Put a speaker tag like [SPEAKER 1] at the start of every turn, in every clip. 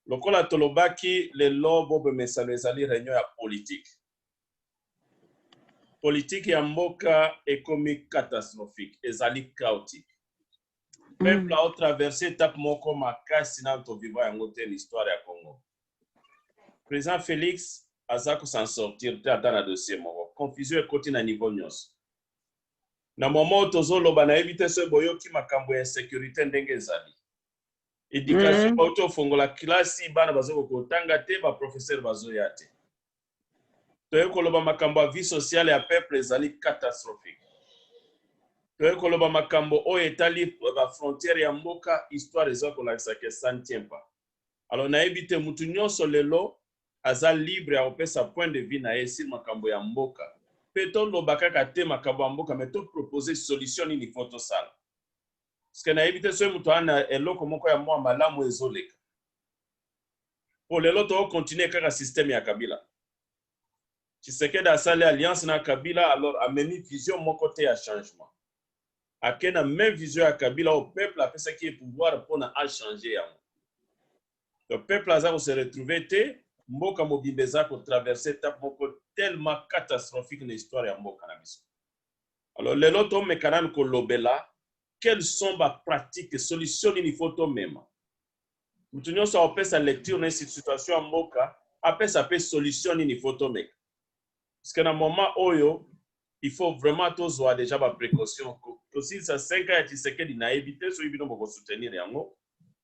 [SPEAKER 1] lokola tolobaki lelo bobe mesano ezali reunion ya politique politique ya mboka ekomi catastrophique ezali chaotique mm. peuple mm. aotraverse étape moko makasi nano tovivra yango te l'histoire ya congo président félix aza kosan sortir te ata na dossier moko confusion ekoti na niveau nyonso na moment oyo tozoloba nayebi te soki boyoki makambo ya insécurité ndenge ezali education mm. bauti ofongola klasi bana bazokoka kotanga te baprofesseur bazoya te toyei koloba makambo ya vie sociale ya peuple ezali catastrophique toyei koloba makambo oyo etali bafrontière ya mboka histoire eza kolakisa ke ça ne tient pas alors nayebi te motu nyonso lelo aza libre ya kopesa point de vue na ye sur makambo ya mboka mpe toloba kaka te makambo ya mboka me topropose solution nini fo tosala Sike nayebi te soki moto wana eloko moko ya mwa malamu ezoleka. Po lelo to continue kaka systeme ya Kabila. Tshisekedi asali alliance na Kabila alors amemi vision moko te ya changement. Ake na meme vision ya Kabila oyo peuple apesaki ye pouvoir pona a changer yango. Donc peuple aza ko se retrouver te, mboka mobimba eza ko traverser etape moko tellement catastrophique na histoire ya mboka na biso. alors lelo tomeka nanu kolobela quelles sont ba pratiques solution nini faut tomema moto nyonso akopesa lecture na situation ya mboka apesa mpe solution nini faut tomeka parce que na moment oyo il faut vraiment tozwa déjà ba précaution tosilisa 5 ans ya tshisekedi nayebi te soki bino bokosoutenir yango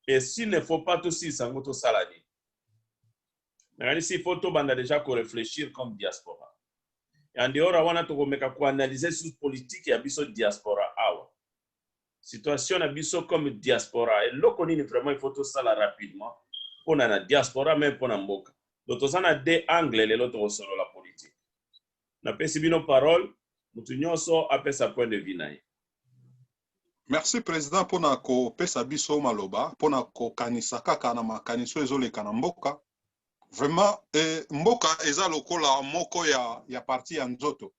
[SPEAKER 1] et s'il ne faut pas tosilisa yango tosala nini nakanisi il faut tobanda deja ko reflechir comme diaspora en dehors ya wana tokomeka koanalyse sur politique ya biso diaspora awa situation na biso comme diaspora eloko nini vraiment il faut tosala rapidement mpona na diaspora meme mpona mboka do toza na de angle lelo tokosolola politique napesi bino parole motu nyonso apesa point de vue na ye
[SPEAKER 2] Merci president pona kopesa biso maloba pona kokanisa kaka na makanisi oyo ezoleka na mboka vraiment eh, mboka eza lokola moko ya, ya parti ya nzoto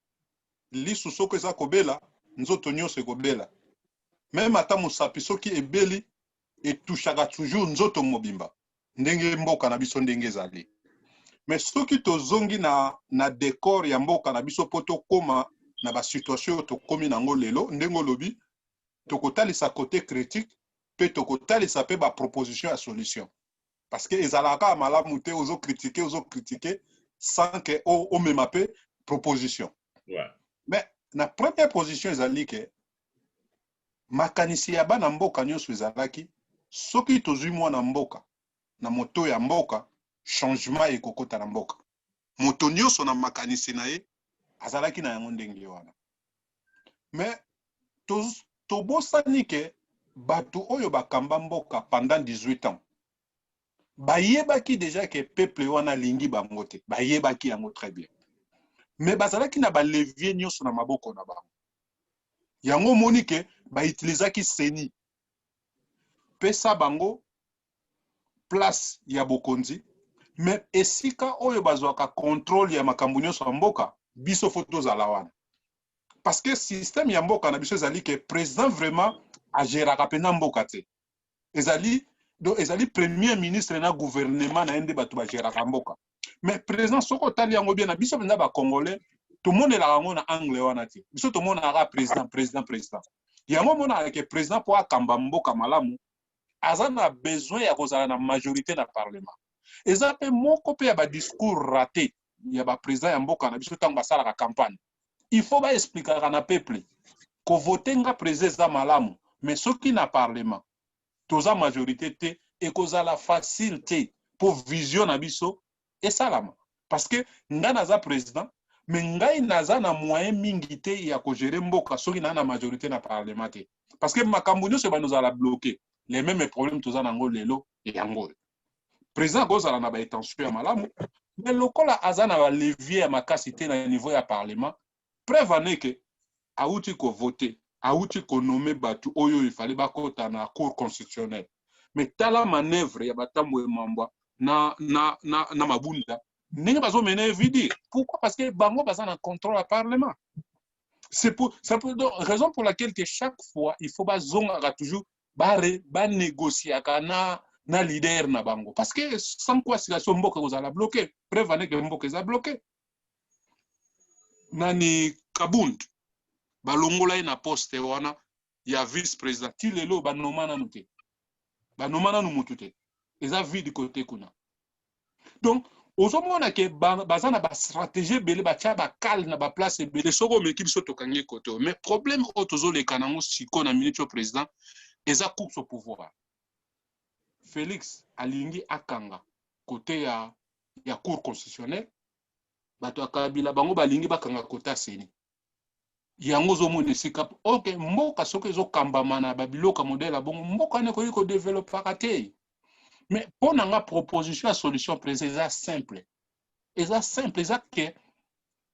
[SPEAKER 2] lisu soko eza kobela nzoto nyonso ekobela meme ata mosapi soki ebeli etushaka toujours nzoto mobimba ndenge mboka na biso ndenge ezali mais soki tozongi na, na decor ya mboka na biso mpo tokóma na basituation oyo tokómi nango lelo ndenge olobi tokotalisa kote critique mpe tokotalisa mpe baproposition ya solution parce que ezalaka kaka malamu te ozo kritike ozo kritike sans que omema mpe proposition yeah.
[SPEAKER 1] mais na
[SPEAKER 2] première position ezali ke makanisi ya bana mboka nionso ezalaki soki tozui mwana mboka na moto ya mboka changement ekokota na mboka. Moto nionso na makanisi na ye azalaki na yango ndenge wana. Mais to tobosani ke batu oyo bakamba mboka pendant 18 ans bayebaki deja ke peuple wana alingi bango te bayebaki yango très bien me bazalaki na balevier nyonso na maboko na bango yango omoni ke bautilisaki seni pesa bango place ya bokonzi me esika oyo bazwaka contrôle ya makambo nyonso ya mboka biso fo tozala wana parce que système ya mboka na biso ezali ke président vraiment ageraka mpenza mboka te ezali donc ezali premier ministre na gouvernement na ye nde bato bageraka mboka mais président soki otali yango bien na biso mpenza bacongolais tomonelaka yango na angle wana te biso tomonaka président président président yango omonaka ke président mpo akamba mboka malamu aza na besoin ya kozala na majorité na parlement eza mpe moko mpe ya badiscours raté ya baprésident ya mboka na biso ntango basalaka campagne il faut ba explikaka na peuple ko vote nga president eza malamu mais soki na parlement toza majorite te ekozala facile te po vision na biso esalama parce que nga naza president mais ngai naza na moyen mingi te ya ko gérer mboka soki na na majorite na parlement te parce que makambo nyonso ebanda ozala bloqué les mêmes problèmes toza nango lelo yango oyo président akozala na ba intention ya malamu mais lokola aza na ba levier ya makasi te na niveau ya parlement preuve en est que auti ko voter auti ko nommer batu oyo il fallait bakota na cour constitutionnelle mais tala manœuvre ya batambo emambwa na, na, na, na mabunda ndenge bazomene vidi pourquoi parce que bango baza na contrôle ya parlement c'est pour, ça pour, donc, raison pour laquelle que chaque fois il faut bazongaka toujours ba negociaka na na leader na bango parce que sans quoi situation mboka ekozala bloqué preuve ane ke mboka eza bloqué nani kabund balongola ye na poste wana ya vice président ti lelo banoma nanu te banoma nanu mutu te eza vide kote kuna donc ozomona ke baza na bastratégie ebele batya bacale na baplace ebele soki omeki biso tokangi kote oyo mais problème oyo tozoleka nango sikoyo na minute oyo président eza course au pouvoir félix alingi akanga kote ya, ya cour constitutionnelle bato ya kabila bango balingi bakanga kote ya seni yango ozomona esika ok mboka soki ezokambama na babiloko ya modele ya bongo mboka wana ekoki kodevelopaka te mais mpo na nga proposition ya solution président eza simple eza simple eza ke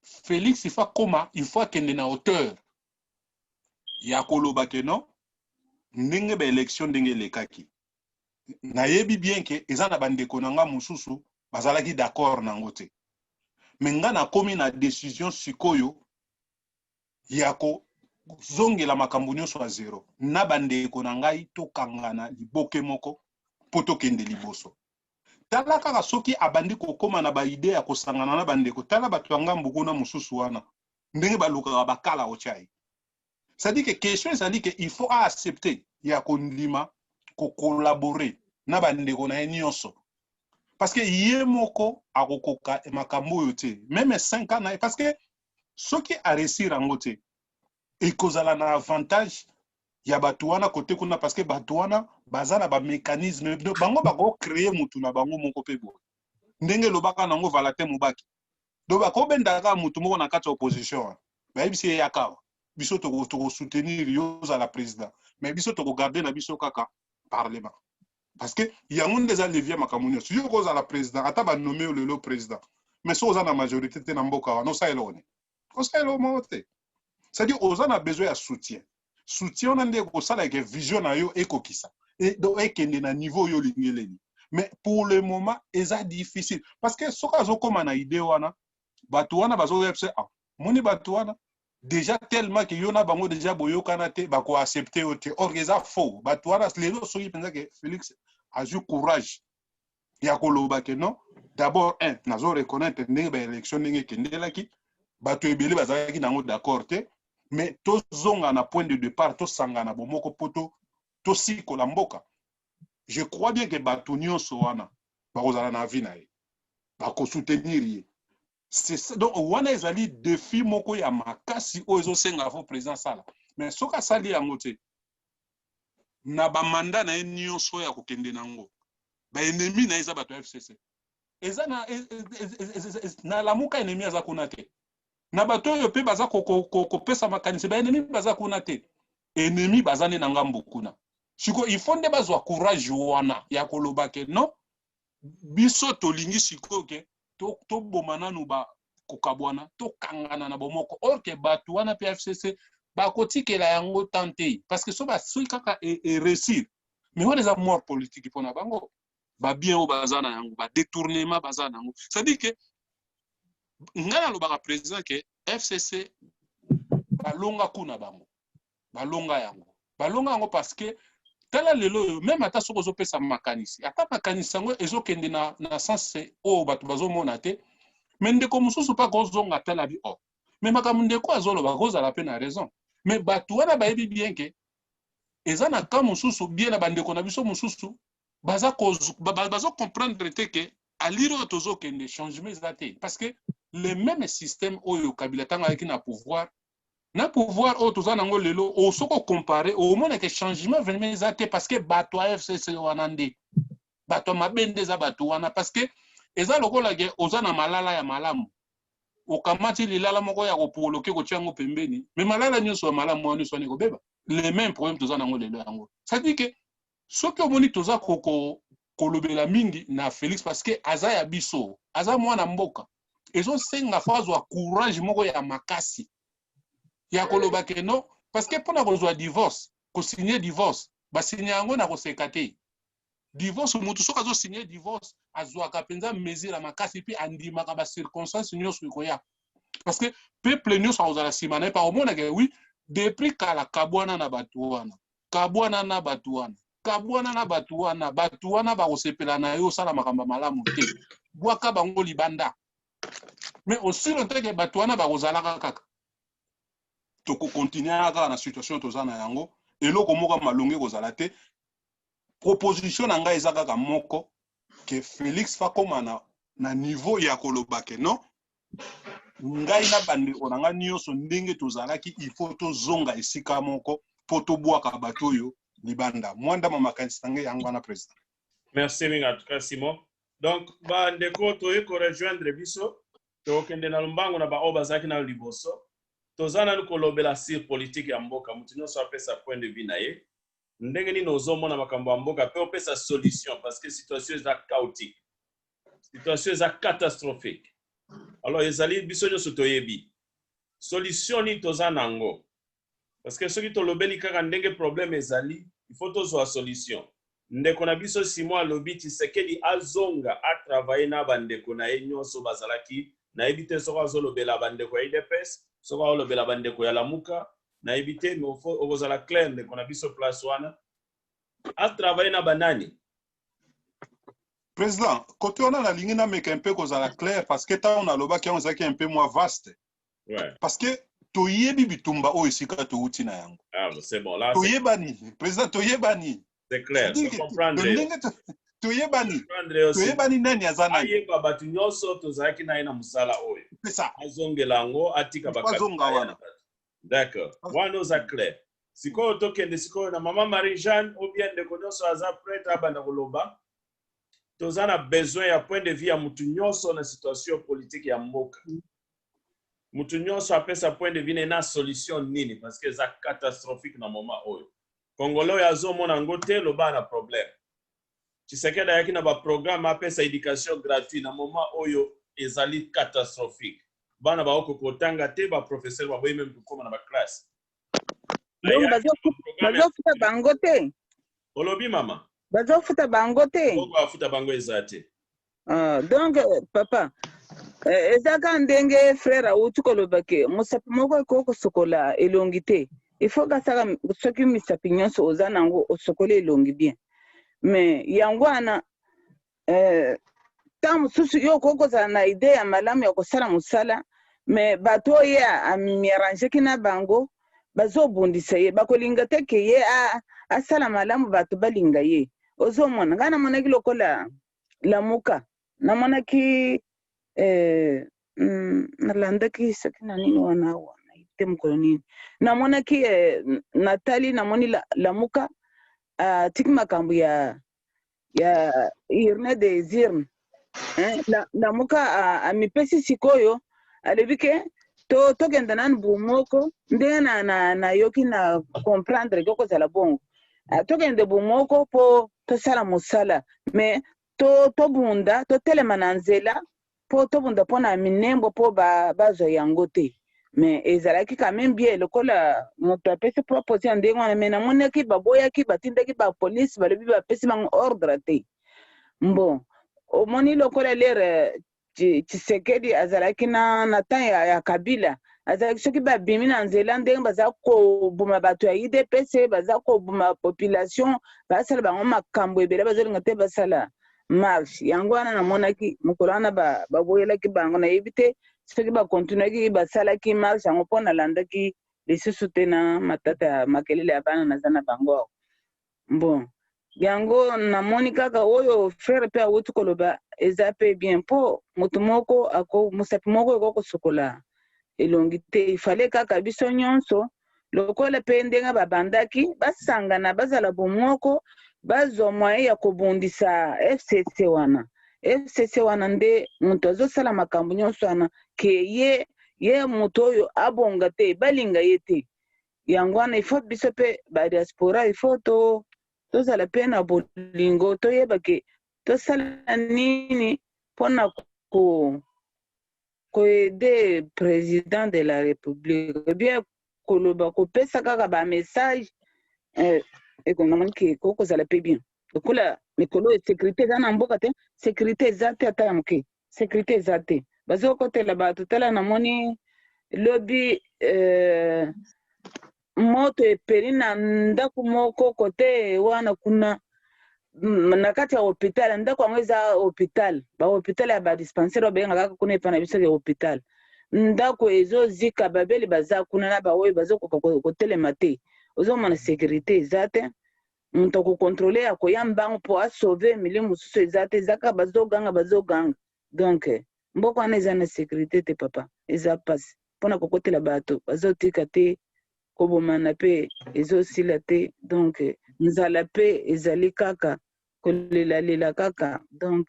[SPEAKER 2] félix ifa koma il faut akende na hauteur ya koloba ke non ndenge baélection ndenge elekaki nayebi bien ke eza na bandeko na nga mosusu bazalaki d'accord na yango te me nga nakomi na decision sikoyo ya kozongela makambo nyonso ya zero na bandeko na ngai tokangana liboke moko mpo tokende liboso tala kaka soki abandi kokóma na baide ya kosangana na bandeko tala bato ya ngambu kuna mosusu wana ndenge balukaka bakala otya ye c'est à dire que question ezali que il faut a accepter ya kondima ko collaborer na bandeko na ye nyonso parce que ye moko akokoka makambo oyo te meme 5 ans na ye parce que soki aresir yango te ekozala na avantage ya bato wana kote kuna parce que bato wana baza na bamécanisme bango bakocreye motu na bango moko mpe boye ndenge elobaka nango valatin mobaki donc bakobenda kaka moto moko na kati ya opposition bayebisi ye yaka awa biso tokosoutenir yo ozala président mais biso tokogarde na biso kaka parlement parce que yango nde eza levier makambo nyonso yo okozala président ata banome yo lelo président mais soki oza na majorité te na mboka wana osala eloko nini kosala eloko moko te cetadi oza na besoin ya soutien soutien wana nde ekosala eke vision na yo ekokisa e, do ekende na niveau oyo olingeleli mais pour le moment eza difficile parce que soki azokoma na idee wana bato wana bazoya biso ah, moni bato wana déjà tellement que yo na bango déjà boyokana te bakoaccepte yo te or eza faux bato wana lelo soki mpenza ke félix azwi courage ya koloba ke non d'abord un nazo reconnaître ndenge ba élection ndenge ekendelaki bato ebele bazalaki na yango d'accord te mais tozonga na point de départ tosangana bomoko mpo tosikola mboka je crois bien ke bato nyonso wana bakozala na avis na ye bakosoutenir ye donc wana ezali défi moko ya makasi oyo ezosenga fo président asala mais soki asali yango te na ba mandat na ye nioso ya kokende na yango ba ennemis na ye eza bato ya fcc eza na e, e, e, na lamuka ennemi aza kuna te na bato oyo mpe baza kopesa makanisi ba ennemis baza kuna te ennemi baza nde na ngambo kuna siko il faut nde bazwa courage wana ya koloba ke non biso tolingi sikoyo ke toboma to nanu ba kokabwana tokangana na bomoko or ke bato wana mpe fcc bakotikela yango temps te parce que so basui kaka eresir e mais wana eza mort politique mpo na bango babien oyo baza na yango badetournement baza na yango cestadire ke ngai nalobaka président ke fcc balonga kuna bango balonga yango balonga yango parce que tala lelo oyo meme ata soki ozopesa makanisi ata makanisi yango ezokende na, na sense oyo bato bazomona te me ndeko mosusu mpe akozonga ata na bi o oh. me makambo ndeko azoloba akozala mpe na raison me bato wana bayebi bien ke eza na cas mosusu bien na bandeko na biso mosusu baza comprendre te ke alire oyo tozokende changement eza te parce que le même système oyo kabila ntango ayaki na pouvoir na pouvoir oyo toza nango lelo o soki ocompare omona ke changement vraiment eza te parce que bato ya fcc wana nde bato ya mabe nde eza bato wana parce que eza lokola ke oza na malala ya malamu okamati lilala moko ya kopoloke kotia yango pembeni me malala nyonso ya malamu wana nyonso wana ekobeba le même problème toza nango lelo yango cetadire ke Soki omoni toza ko ko kolobela mingi na Felix parce que aza ya biso, aza mwana mboka. Ezo senga faut azwa courage moko ya makasi ya koloba que non parce que pona kozwa divorce, ko signer divorce, ba signer yango na koseka te. Divorce mutu soki azo signer divorce azwaka penza mesure ya makasi puis andimaka ba circonstances nionso ekoya. Parce que peuple nionso akozala sima na ye, akomonaka oui depuis kala kabwana na batu wana. kabwana na bato wana kabwana na bato wana bato wana bakosepela na yo osala makambo malamu te bwaka bango libanda mais aussi longtemps ke bato wana bakozalaka kaka tokokontinue kaka na situation toza na yango eloko moko ya malongi ekozala te proposition na ngai eza kaka moko ke félix fakoma na, na niveau ya koloba ke non ngai na bandeko na ngai nyonso ndenge tozalaki ifo tozonga esika moko mpo tobwaka bato oyo libanda mwanda ma makanisi na ngai yango wana président merci mingi
[SPEAKER 1] atuka simon donc bandeko toye korejoindre biso tokokende na lombango na baoyo bazalaki nayo liboso toza nanu kolobela sur politike ya mboka moto nyonso apesa point de vue na ye ndenge nini ozomona makambo ya mboka mpe opesa solution parce que situation eza chaotique situation eza catastrophique alors ezali biso nyonso toyebi solution nini toza na yango parce que soki tolobeli kaka ndenge problème ezali il faut tozwa solution ndeko na biso simon alobi tshisekedi azonga atravaille na bandeko na ye nyonso bazalaki nayebi te soki azolobela bandeko ya idps soki aolobela bandeko ya lamuka nayebi te okozala claire ndeko na biso place wana atravaille na banani
[SPEAKER 2] Président, côté on a la ligne mais un peu cause à la claire parce que tant on a loba qui on zaki un peu moins vaste. Ouais. Parce que toyebi bitumba oyo esika touti na yango. Ah, c'est bon là.
[SPEAKER 1] Toyebani, président
[SPEAKER 2] toyebani. C'est clair. Je
[SPEAKER 1] comprends. toyebani
[SPEAKER 2] toyebani nani aza nani ayeba bato nyonso
[SPEAKER 1] tozalaki na ye na mosala oyo azongela
[SPEAKER 2] yango
[SPEAKER 1] atika bakazonga wana D'accord. Wana oza clair. Sikoyo tokende sikoyo na mama Marie Jeanne ou bien ndeko nyonso aza prête abanda koloba. Toza na besoin ya point de vue ya mutu nyonso na situation politique ya mboka. Mutu nyonso apesa point de vue ne na solution nini parce que eza catastrophique na moment oyo. Congolais oyo azomona yango te loba na problème. Tshisekedi ayaki na ba programme apesa education gratuit na moment oyo ezali catastrophique. Bana baoko kotanga te, ba professeurs baboyi meme kokoma na ba classe. Donc
[SPEAKER 3] bazofuta bango te? Olobi mama?
[SPEAKER 1] Bazofuta bango
[SPEAKER 3] te? Mbongo ya kofuta bango eza
[SPEAKER 1] te. Ah, donc
[SPEAKER 3] euh, papa euh, eza ka ndenge frère awuti koloba ke mosapi moko ekoki kosokola elongi te il faut kasaka m- soki misapi nyonso oza nango osokoli elongi bien mais yango wana euh, ntango mosusu yo okoki kozala na ide ya malamu ya kosala mosala me bato oyo ye a- amierangeki na bango bazobundisa ye bakolinga te ke ye a- asala malamu bato balinga ye ozomona ngai namonaki lokola lamuka namonaki eh, mm, nalandaki soki na nini wana awa nayebi te mokolo nini namonaki eh, natali namoni la, lamuka atiki ah, makambo ya ya urne des urnes eh, la, lamuka ah, amipesi ah, sikoyo alobi ke to tokenda nanu bu moko ndenge nayoki na, na, na comprendre ke okozala bongo ah, tokende bomoko mpo tosala mosala me to, tobunda totelema na nzela mpo tobunda mpo na minembo mpo bazwa ba yango te me ezalaki kameme bie lokola moto apesi propose ya ndenge wana me namonaki baboyaki batindaki bapolisi balobi bapesi bango ordre te mbo omoni lokola lere Tshisekedi azalaki na, na temps ya, ya Kabila azalaki soki babimi na nzela ndenge baza koboma bato ya udps baza koboma population basala bango makambo ebele bazolinga te basala marche yango wana namonaki mokolo wana baboyelaki ba bango nayebi te soki bakontinuaki basalaki marche yango mpo nalandaki lisusu te na matata ya makelele ya bana naza na bango Bon yango namoni kaka oyo frere pe awuti koloba eza pe bien po mutu moko ako mosapi moko eko kosokola elongi te ifale kaka biso nionso lokola pe ndenge babandaki basangana bazala bomoko bazwa moyen ya kobundisa FCC wana FCC wana nde mutu azosala makambo nionso wana ke ye ye mutu oyo abonga te balinga ye te yango wana il faut biso mpe badiaspora il faut to tozala mpe na bolingo toyeba ke tosala nini mpona ko koede président de la république eh bien koloba kopesa kaka bamessage eh, ekonamoni ke ekoki kozala mpe bien lokola mikolo ya sécurité eza na mboka te sécurité eza te ata ya moke securite eza te bazokotela bato tala namoni lobi euh, moto epeli na ndako moko kote wana kuna na kati ya hopital ndako yango eza hopital bahopital ya badispensaire babengaka kaka kuna epa na biso ya hopital ndako ezozika babeli baza kuna na baoyo bazokoka kotelema te ozomona securite eza te mutu ako controler akoya mbangu po a sauver milieu mususu eza te eza kaka bazo ganga bazo ganga donc mboka wana eza na securite te papa eza pasi pona kokotela batu bazo tika te kobomana pe ezo sila te donc nzala pe ezali kaka kolela lela kaka donc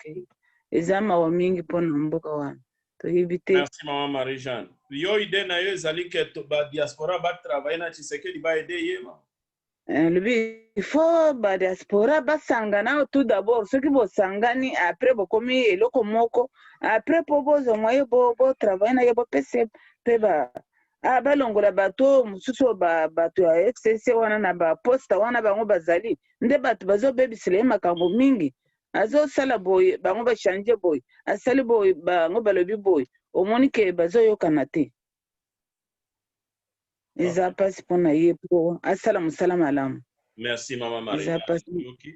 [SPEAKER 3] eza mawa mingi pona mboka wana toyebi te merci maman Marie
[SPEAKER 1] Jeanne yo idee na yo ezali que ba diaspora ba travailler na Tshisekedi ba aider ye ma Eh, lobi
[SPEAKER 3] il faut ba diaspora basangana tout d'abord soki bosangani après bokomi eloko moko après po bozwa moye bo, bo travaille na ye bopese pe ba ah, balongola bato oyo mosusu oyo ba- bato ya fcc wana na baposta wana bango bazali nde bato bazobebisela ye makambo mingi azosala boye bango bachange boye asali boye bango balobi boye omoni ke bazoyokana te eza mpasi mpo na ye mpo asala mosala malamu merci mama
[SPEAKER 1] maria toyoki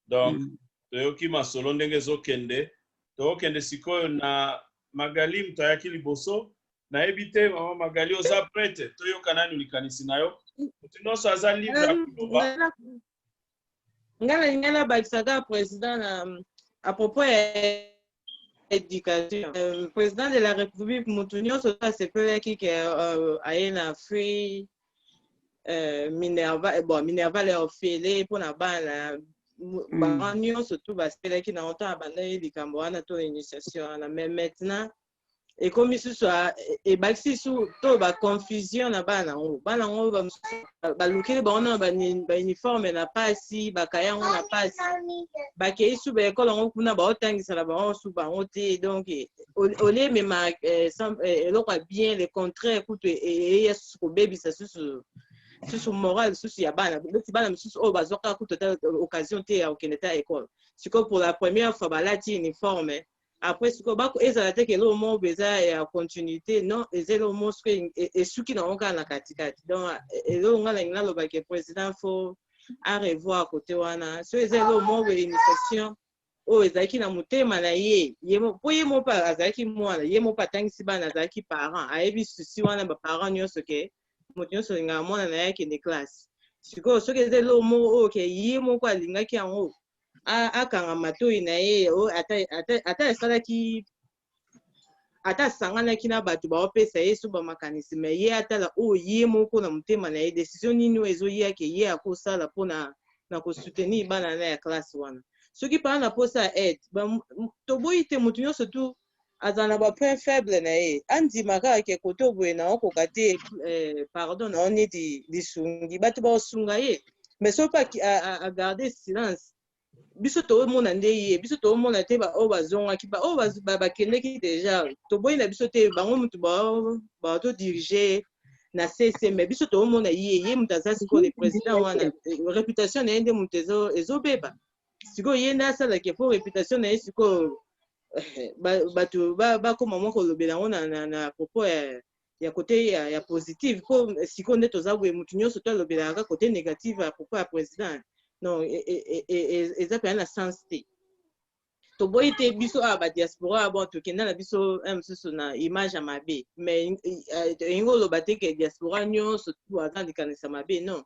[SPEAKER 1] donc mm. toyoki masolo ndenge ezokende tokende sikoyo na magali moto ayaki liboso nayebi te mama magali oza prete toyoka nanu likanisi na yo moto nyonso aza libre ya koloba nga nalinga
[SPEAKER 4] nabakisa kaka président na à propos ya éducation euh, président de la république motu nyonso oyo asepelaki ke euh, aye na free euh, minerva eh, bon minerva le ofele mpo na bana mm. bango nyonso tu basepelaki na otan abandaki likambo wana to initiation wana mais maintenant ekomi susu ebakisi su to ba confusion na bana yango bana yango balukeli bango na bauniforme na pasi bakaya yango na pasi bakei su baekole yango kuna baotangisa na bango su bango te donc olie emema eh, eh, eloko ya bien le contraire kutu e, e, eya susu kobebisa susu susu moral lisusu ya bana neti bana misusu oyo bazwaka kutu ata occasion te ya kokende ta ekole sikoyo pour la première fois balati uniforme après sikoyo bako ezala te ke eloko moko boye eza ya continuité non eza eloko moko soki e- e- esuki na yango kaka na katikati donc e- eloko ngai nalingi naloba ke président fo a revoir kote wana so eza eloko moko boye initiation oyo ezalaki na motema na ye ye mo- mpo ye moko mpe azalaki mwana ye moko mpe atangisi bana azalaki parent ayebi susi wana baparent nyonso ke moto nyonso alingaka mwana na ye akende classe sikoyo soki eza eloko moko oyo ke ye moko alingaki yango akanga matoi na ye oh, ata, ata, ata asalaki ata asanganaki na bato baopesa ye so bamakanisi me ye atala oyo oh, ye moko na motema na ye desizio nini oyo ezoyake ye akosala mpona na kosoutenir bana na ya classe wana soki mpaa na mposa ya aide toboyi te moto nyonso tu aza na ba point faible na ye andima kaka ke koto boye na okoka te eh, pardon na onidi lisungi bato baosunga ye mais soki mpe agarde silence biso toomona nde ye biso toomona te baoyo bazongaki baoyo bakendeki deja toboyi na biso te bango motu baotodirige na sese me biso toomona ye ye moto aza sikoyo le président wana réputation na ye nde moto ezobeba sikoyo ye nde asalaki mpo réputation na ye sikoyo bato bakoma mwa kolobela yango na propos ya ya kote ya, ya positive mpo sikoyo nde toza boye motu nyonso to alobelaka kaka kote negative ya propos ya président non e, e, e, eza mpenza na sens te toboyi te biso awa badiaspora bon tokenda na biso eh, mosusu na image ya mabe mais elingi eh, oloba te ke diaspora nyonso tu aza likanisa mabe non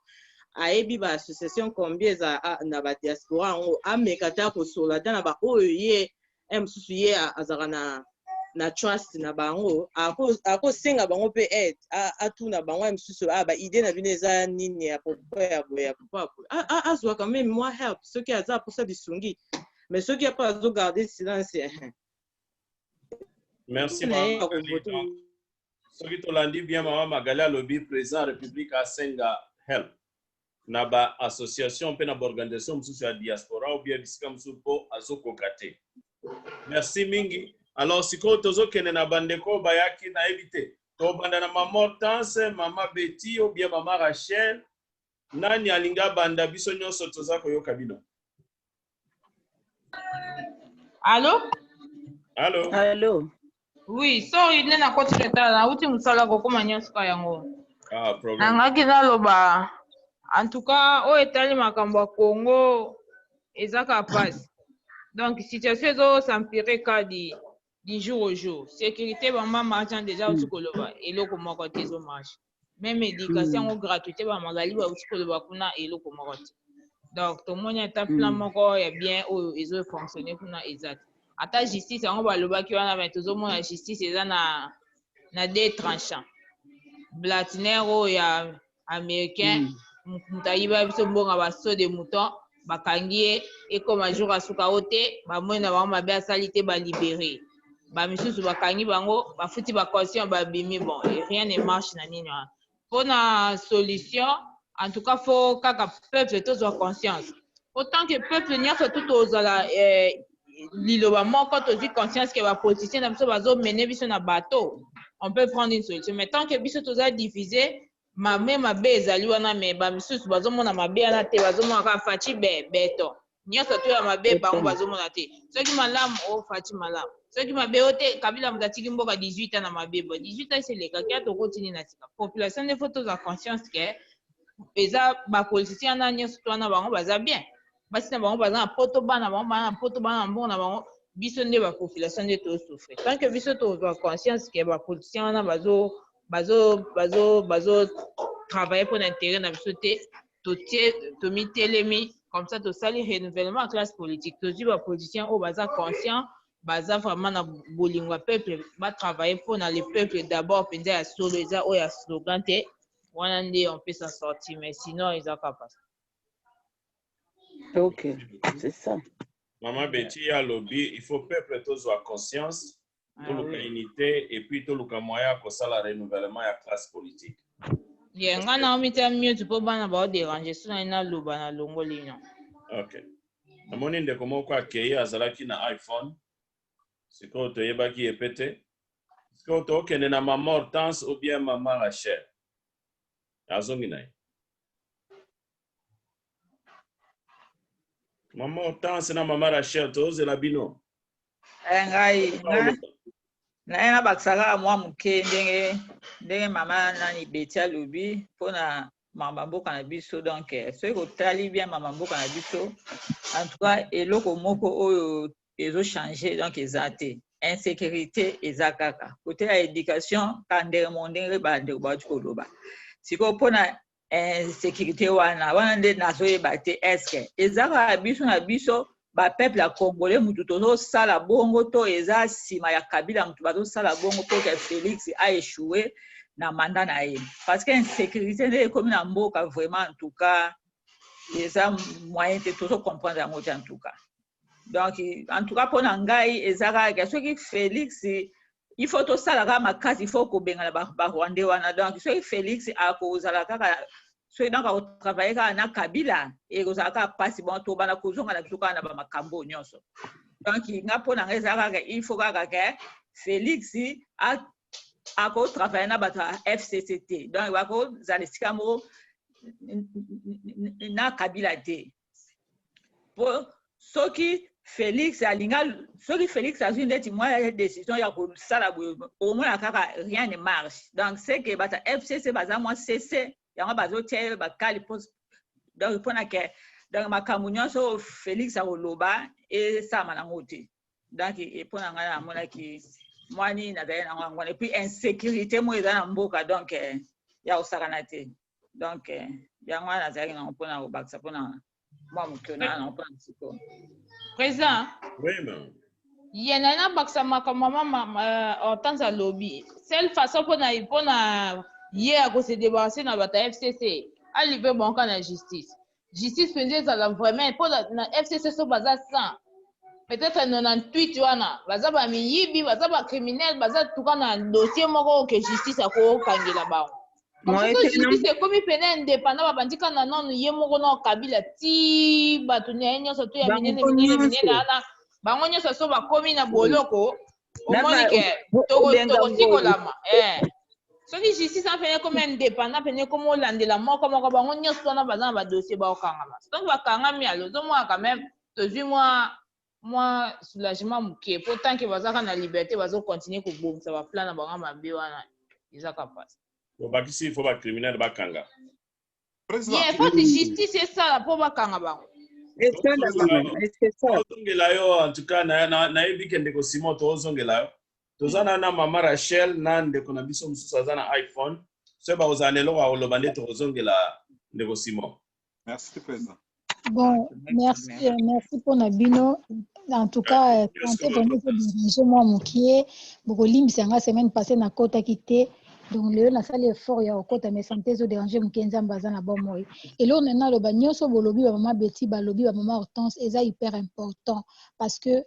[SPEAKER 4] ayebi ba association combien eza na ba diaspora yango ameka ata kosola ata na baoyo ye eh, mosusu ye azalaka na na trust na bango akosenga ako bango mpe aide atuna bango ya mosusu ah, baide na bino eza nini ya pokwa ya boye ya pokwa ya boye azwaka meme mwa help soki aza aposa lisungi mais soki apo azogarde silence eh, eh.
[SPEAKER 1] merci soki tolandi bien mama magali alobi président république asenga help na ba association mpe na baorganisation mosusu ya diaspora ou bien bisika mosusu mpo azokoka te merci mingi alors sikoyo tozokende na bandeko oyo bayaki nayebi te tobanda na mama hortense mama beti ou bien mama rachel nani alingi abanda biso nyonso toza koyoka bino
[SPEAKER 5] Allô? Allô? Allô? Oui, sorry, nde nakoti retard, nauti mosala kokoma nyonso ka yango. Ah,
[SPEAKER 1] problème. Nangaki naloba
[SPEAKER 5] en tout cas oyo etali makambo ya Congo eza ka pasi. Donc situation ezo s'empirer kadi. du jour au jour securite ba mama aja deja auti koloba eloko moko te ezo marche meme education yango gratuite ba magali bauti koloba kuna eloko moko te donc tomoni ata plan moko ya bien oyo ezo fonctionne kuna eza te ata justice yango balobaki wana me tozomona justice eza na na deux tranchant blatiner oyo ya americain hmm. moto ayiba biso mbongo ya baso de mouton bakangi ye ekoma jour ya suka o te bamoni na bango mabe asali te balibere bamisusu bakangi bango bafuti bacaution babimi bon rien ne marche na nini wana mpo na solution en tout cas fo kaka peuple tozwa conscience autant que peuple nyonso tu tozala eh, liloba moko tozwi conscience que ba politiciens na biso bazo mener biso na bateau on peut prendre une solution mais tant que biso toza divise mame mabe ezali wana mais ba misusu bazomona mabe wana te bazomona kaka faci be beton nyonso to ya mabe bango bazomona te soki malamu o oh, faci malamu soki mabe o te kabila moto atiki mboka 18 ans na mabe bo 18 ans eseleka kia tokoti nini na sika population nde fo tozwa conscience ke eza bapoliticien wana nyonso to wana bango baza bien basi na bango baza na poto bana bango baa na poto baa na mbongo na bango biso nde ba population nde tosouffrir tant que biso tozwa conscience ke ba politiciens wana bazo bazo bazo bazo travailler mpo na intérêt na biso te totie tomitelemi comme ça tosali renouvellement ya classe politique tozwi ba politiciens oyo baza conscient baza vraiment na bolingo ya peuple batravaille mpo na le peuple d'abord mpenza ya solo eza oyo ya slogan te wana nde on peut s'en sortir mais sinon eza kaka
[SPEAKER 3] Ok, c'est ça. Maman Betty
[SPEAKER 1] alobi, il faut peuple tozwa conscience, Ah toluka oui. unité et puis toluka moyen ya kosala renouvellement ya classe politique. Ye nga
[SPEAKER 5] na omitya mute mpo bana bao derange so nai naloba na longoli no. Ok.
[SPEAKER 1] Namoni ndeko moko akei azalaki na iPhone. Sikoyo toyebaki ye pe te. Sikoyo tokende na maman Hortense ou bien maman Rachel. Azongi na ye. Maman Hortense na Maman Rachel, tozela bino. Eh, ngai,
[SPEAKER 6] naye nabakisa kaka mwa moke ndenge ndenge mama nani beti alobi mpona mama mboka na biso donc eh, soki kotali bien mama mboka na biso en tout cas eloko moko oyo ezochange donc eza te insécurité eza kaka kote ya éducation ka ndenge mo ndenge bandeko bauti koloba sikoyo mpona insécurité wana wana nde nazoyeba te eske eza kaka biso na biso bapeuple ya congolais motu tozosala bongo to eza nsima ya kabila motu bazosala bongo mpo ke félix aechoue na manda na ye parce que insécurité nde ekomi na mboka vraiment en tout cas eza moyen te tozocomprendre yango te en tout cas donc en tout cas mpo na ngai eza kaka soki félix il faut tosala kaka makasi il faut kobengana barwandais wana donc soki félix akozala kaka soki donc akotravaille kaka na kabila ekozala kaka mpasi bon tobanda kozonga na biso kaka na bamakambo oyo nyonso donc nga mpo na ngai eza kaka il faut kaka ke félix akotravaille na bato ya fcc te donc bakozala esika moko na kabila te po soki Felix alinga soki Felix azwi ndeti mwa decision ya kosala boye okomona kaka rien ne marche donc c'est que bata FCC baza mwa sese yango bazotia ye bakali po donc mpona ke donc makambo nyonso oyo Felix akoloba esalama nango te donc mpo na ngai namonaki mwa nini nazali nango yango wana epuis insécurité moko eza na mboka donc ya kosakana te donc eh, yango wana nazalaki nango mpona kobakisa mpona mwa mokio na yango mpona siko président
[SPEAKER 1] ye na
[SPEAKER 5] nabakisa makambo mama eh, hortense alobi sel façon mpona mpona ye ya kosedebarase na bato ya fcc alive banka na justice justice penza ezala vraiment po na FCC so baza 100 peut-être 98 wana baza ba miyibi baza ba criminel baza tuka na dossier moko oyo ke justice akokangela bango justice ekomi pena indépendant babandi kaka na nanu ye moko na kabila ti bato na ye nyonso to ya minene minene minene wana bango nyonso so bakomi na boloko omoni ke tokosikolama eh. soki justice wana pene ekomi indépendant pene ekomi olandela moko moko bango nyonso wana baza na badossier baokangama soki bakangami alo ozomona quand même tozwi mwa mwa soulagement moke mpo tant ke bazalaka na liberté bazocontinue kobongisa baplan na bango mabe wana ezaka mpasi
[SPEAKER 1] obakisi fo bacriminel bakanga
[SPEAKER 2] Ye foti justice
[SPEAKER 5] esala mpo bakanga bango.
[SPEAKER 3] Esala bana, esala. Tozongela yo en tout cas
[SPEAKER 1] na- na- nayebi ke ndeko Simon tozongela yo. Toza na na mama Rachel na ndeko na biso mosusu aza na iPhone. Soki bakozala na eloko ya koloba nde tokozongela ndeko Simon. Merci président.
[SPEAKER 2] Bon,
[SPEAKER 7] merci, euh, merci mpo na bino. En tout cas, euh, sante vraiment ezodirige mwa mokie. Bokolimbisa nga semaine passée nakotaki te. Donc lelo nasali effort ya kokota mais sante ezoderange mokie nzambe aza na bomoi. Eloko na naloba nyonso bolobi bamama Betty, balobi bamama Hortense eza hyper important parce que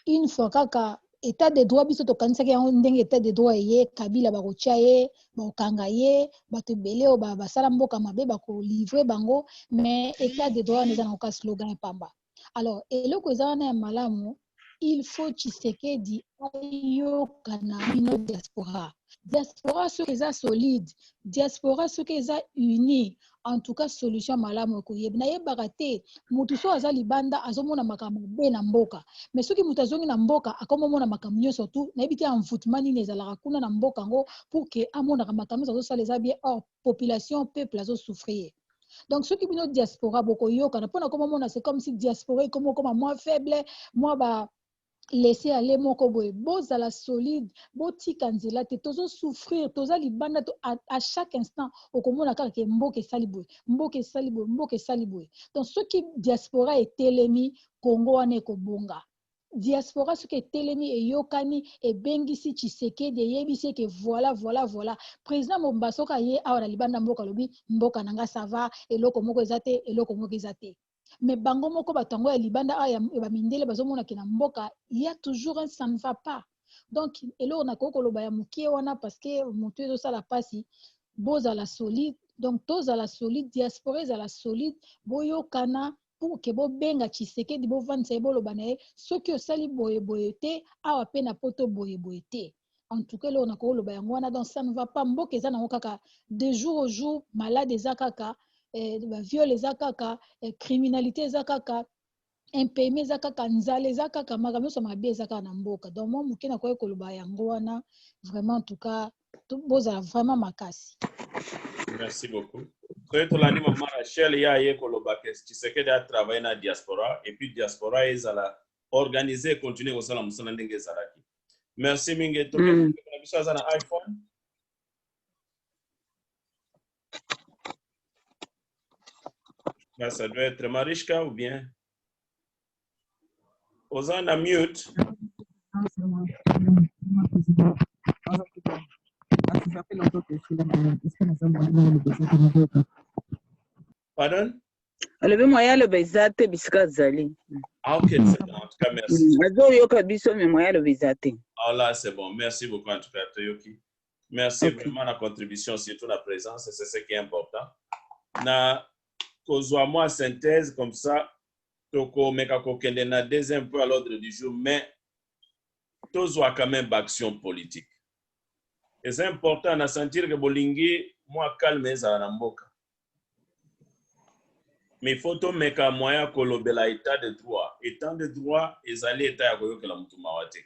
[SPEAKER 7] une fois kaka etat de droit biso tokanisaki yango ndenge etat de droit eye kabila bakotya ye bakokanga ye bato ebele oyo basala mboka mabe bakolivre bango mais etat de droit wana eza na koka slogan ya pamba alors eloko eza wana ya malamu il faut tshisekedi ayoka na bino diaspora diaspora soki eza solide diaspora soki eza unie en tout cas solution malamu ekoyebi nayebaka te motu soki aza libanda azomona makambo mabe na mboka me soki moto azongi na mboka akomomona makambo nyonso tu nayebi te envoutement nini ezalaka kuna na mboka yango pour ke amonaka makambo nyonso azosala eza bien or population peuple azosouffrir donc soki bino diaspora bokoyokana mpona komomona se comme si diaspora ekomi okoma moins faible mwa ba laisser aller moko boye bozala solide botika nzela te tozo souffrir toza libanda to, à, à chaque instant okomona kaka ke mboka esali boye mboka esali boye mboka esali boye donc soki diaspora etelemi congo wana ekobonga diaspora soki etelemi eyokani ebengisi tshisekedi eyebisi eke voilà voilà voilà président momba soki aye awa na libanda mboka alobi mboka na nga sava eloko moko eza te eloko moko eza te mais bango moko bato yango ya libanda awa ya bamindele bazomona ke na mboka ya toujours un ça ne va pas donc eloko nakoki koloba ya moke wana parce que motu ezosala mpasi bozala solide donc tozala solide diaspora ezala solide boyokana pour ke bobenga tshisekedi bovandisa ye boloba na ye soki osali boye boye te awa mpe na poto boye boye te en tout cas eloko nakoki koloba yango wana donc ça ne va pas mboka eza nango kaka de jour au jour malade eza kaka eh, baviole eza kaka eh, criminalité eza kaka impayement eza kaka nzala eza kaka makambo nyonso mabe eza kaka na mboka donc mwa moke nakoki koloba yango wana vraiment en tout cas bozala vraiment makasi merci
[SPEAKER 1] beaucoup soki tolandi mama rachel ye aye koloba ke tshisekedi atravaille na diaspora et puis diaspora ezala organise continue kosala mosala ndenge ezalaki merci mingi mm. tokende na biso aza na iphone ça doit être Marichka ou bien Oza na mute. Pardon? alobi
[SPEAKER 3] moye aloba eza te bisika azali Ah, ok, c'est bon. En
[SPEAKER 1] tout cas, merci. azoyoka biso
[SPEAKER 3] me moye aloba eza te Ah, là, c'est bon.
[SPEAKER 1] Merci beaucoup, en tout cas, Toyoki. Merci Ok. vraiment la contribution, surtout la présence, et c'est ce qui est important. Na kozwa moi synthèse comme ça, toko meka kokende na deuxième point à l'ordre du jour, mais tozwa quand même action politique. Et c'est important na sentir que bolingi moi calme ezala na mboka. mais il faut tomeka moyen ya kolobela etat de droit etat de droit ezali etat ya koyokela motu mawa te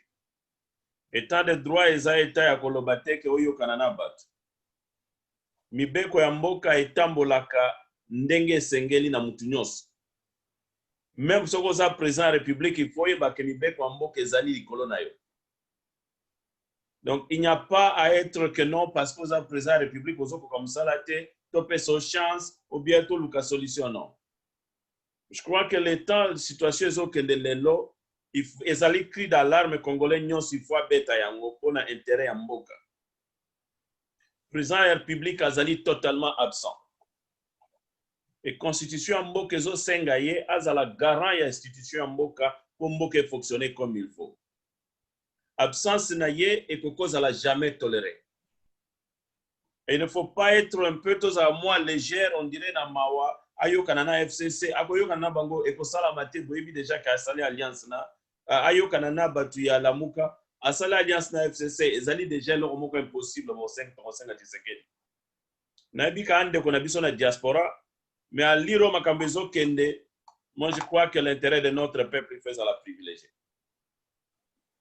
[SPEAKER 1] etat de droit eza etat ya koloba te ke oyokana na bato mibeko ya mboka etambolaka ndenge esengeli na motu nyonso meme soki oza president ya republique il faut oyeba ke mibeko ya mboka ezali likolo na yo donc il n'y a pas à être que non parce que oza président ya république ozokoka mosala te topesa chance ou bien toluka solution non je crois que le temps situation ezokende lelo ezali cri d'alarme congolais nyonso il faut abeta yango mpo na intérêt ya mboka président ya république azali totalement absent e constitution ya mboka ezosenga ye azala garant ya institution ya mboka mpo mboka efonctionne comme il faut absence na ye ekoki kozala jamais tolere et ne faut pas être un peu tozala mwa légère on dirait na mawa ayokana na fcc akoyokana na bango ekosalama te boyebi deja ke asali alliance na ayokana na bato ya lamuka asali alliance na fcc ezali deja eloko moko impossible bosengi tokosengaki sekeli nayebi ka ndeko na biso na diaspora mais à lire makambo ezokende moi je crois que l'intérêt de notre peuple il faut ezala privilégié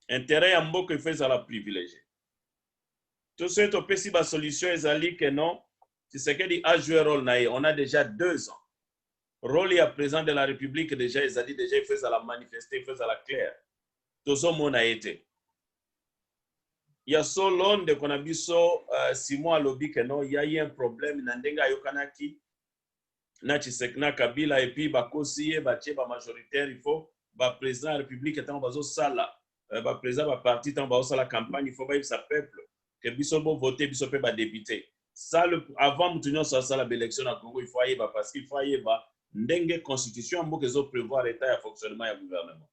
[SPEAKER 1] intérêt ya mboka il faut ezala privilégié to soki topesi basolution ezali que non tshisekedi a joué role na ye on a déjà deux ans role ya président de la république déjà ezali déjà il faut ezala manifeste il faut ezala claire tozomona ye te Ya solo ndeko na biso uh, Simon alobi que non, il y a eu un problème na ndenge ayokanaki na Tshisek na Kabila et puis bakosi ye batie ba majoritaire il faut ba président ya république ntango bazosala uh, ba président ba parti ntango bazosala campagne il faut bayebisa peuple que biso bo vote biso mpe ba député ça le, avant moto nyonso asala ba élection na Congo il faut ayeba parce qu'il faut ayeba ndenge constitution ya mboka ezo prévoir état ya fonctionnement ya gouvernement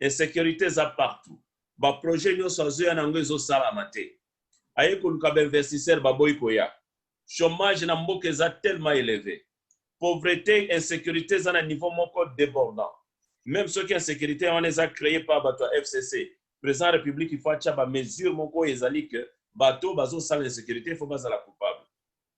[SPEAKER 1] insecurite eza partout ba projet nionso azoya na yango ezosalama te aye koluka ba investisseur baboyi koya chomage na mboka eza tellement eleve pauvrete insecurite eza na niveau moko debordant meme soki insecurite ya wana eza cree par bato ya fcc président ya république il faut atya ba mesure moko oyo ezali que bato bazosala insecurite il faut bazala coupable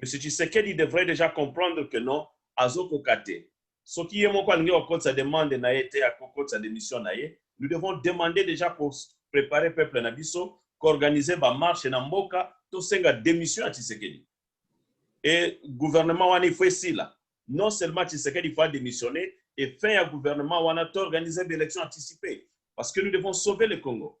[SPEAKER 1] Monsieur Tshisekedi devrait dejà comprendre que non azo koka te. Soki ye moko alingi ko kotisa demande na ye te ako kotisa demission na ye. Nous devons demander dejà ko preparer peuple na biso, ko organiser ba marches na mboka to senga demission ya Tshisekedi. Et gouvernement wana il faut esila. Non seulement Tshisekedi il faut a demissionner et fin ya gouvernement wana to organiser ba elections anticipes. Parce que nous devons sauver le Congo.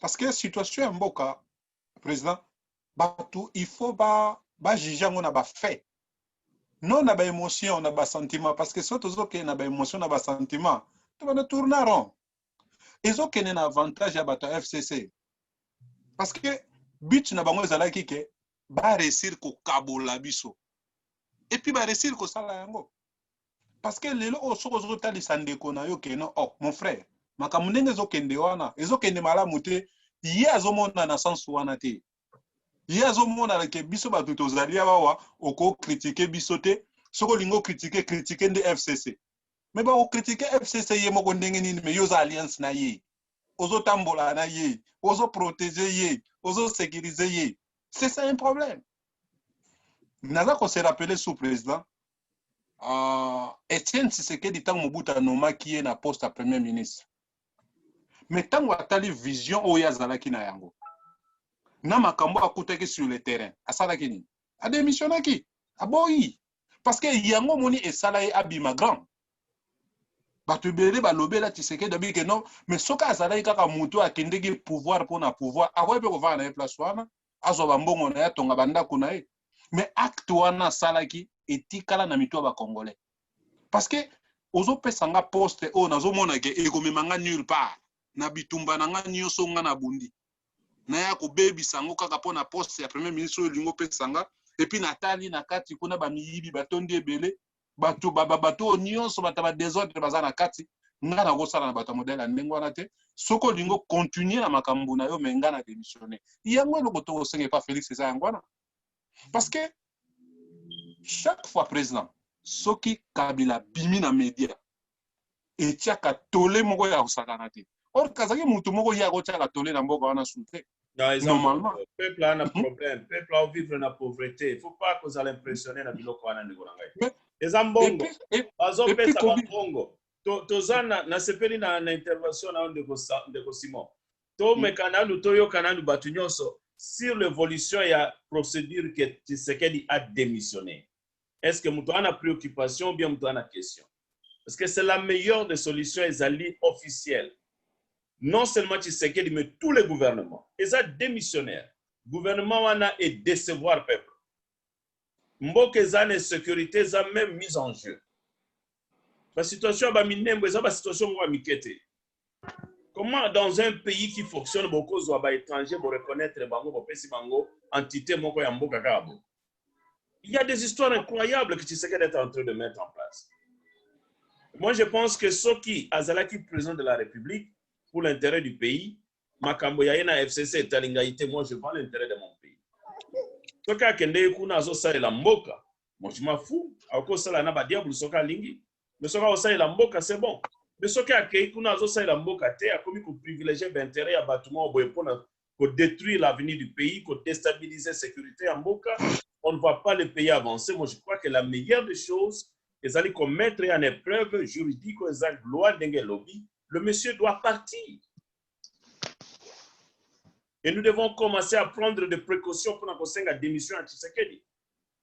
[SPEAKER 2] parce que situation ya mboka président bato il faut ba bajuge yango na bafait non na baémotion na basentiment parce que so tozokende na baémotion na basentiment to bana tourna rond ezokende na avantage ya bato ya fcc parce que but na bango ezalaki ke baresir kokabola biso epuis baresir kosala yango parce que lelo oyo soki ozotalisa ndeko na yo keno oh mon frère makambo ndenge ezokende wana ezokende malamu te ye azomona na sense wana te ye azomonana ke biso bato tozali awa okokritike biso te soki olingi okritike kritike nde fcc me bakokritike fcc ye moko ndenge nini me yo oza alliance na ye ozotambola na ye ozoprotege ye ozosekirize ye c'est ça un problème naza kose rappeler sous président uh, Etienne Tshisekedi ntango Mobutu anomaki ye na poste ya premier ministre me ntango atali vision oyo azalaki na yango na makambo akutaki sur le terrain asalaki nini ademissionnaki aboyi parce que yango omoni esala ye abima grand bato ebele balobela tisekedi abi ke non mais soki azalaki kaka motu akendeki pouvoir mpo na pouvoir akoki mpe kovanda na ye place wana azwa bambongo na ye atonga bandako na ye mais acte wana asalaki etikala na mitu ya bacongolais parce que ozopesa nga poste oyo nazomona ke ekomema nga nulle part na bitumba na nga nyonso nga nabundi naya kobebisa yango kaka mpo na poste ya premier ministre oyo elingi opesa nga epuis natali na kati kuna bamiyibi batondi ebele bato ba, ba, bato oyo nyonso bato ba desordre baza na kati ngai nakosala na bato ya modele ya ndenge wana te soki olingi okontinue na makambo na yo me ngai na démissionne yango eloko tokosenga epa félix eza yango wana parce que chaque fois président soki kabila bimi na média etiaka tole moko ya kosakana te or kazaki motu moko ye akotiaka tole na mboka wana su te normalement peuple a na mhm.
[SPEAKER 1] problème peuple a vivre na pauvreté il faut pas kozala impressionné na biloko wana ndeko na ngai eza mbongo bazopesa bambongo toza nasepeli na, na intervention na yo ndeko, ndeko simon tomeka mhm. nanu toyoka nanu bato nyonso sur l'évolution ya procédure que tshisekedi a démissionné est ce que moto aza na préoccupation ou bien moto aza na question parce que c'est la meilleure des solutions ezali officielle non seulement tshisekedi mais tous les gouvernements eza démissionnaire gouvernement wana e décevoir peuple mboka eza na sécurité eza même mise en jeu basituation ya baminembo eza basituation moko ya mike te Comment dans un pays qui fonctionne beaucoup zwa ba étrangers bo reconnaître bango bo pesi bango entité moko ya mboka kaka bo. Il y a des histoires incroyables que tu sais d'être en train de mettre en place. Moi je pense que Soki Azalaki président de la République pour l'intérêt du pays, makambo ya na FCC etalingayite moi je vends l'intérêt de mon pays. Soki akende kuna azo salela mboka, moi je m'en fous, akosala na ba diable soki alingi. mais soki akosalela mboka c'est bon mais soki akei kuna azosalela mboka te akomi koprivilege bainteret ya bato moko boye mpona kodétruire l'avenir du pays kodestabilise sécurité ya mboka on ne voit pas le pays avancer moi je crois que la meilleure des choses ezali komettre ye en épreuve juridique oyo eza loi ndenge elobi le monsieur doit partir et nous devons commencer à prendre des précautions mpona kosenga démission ya tshisekedi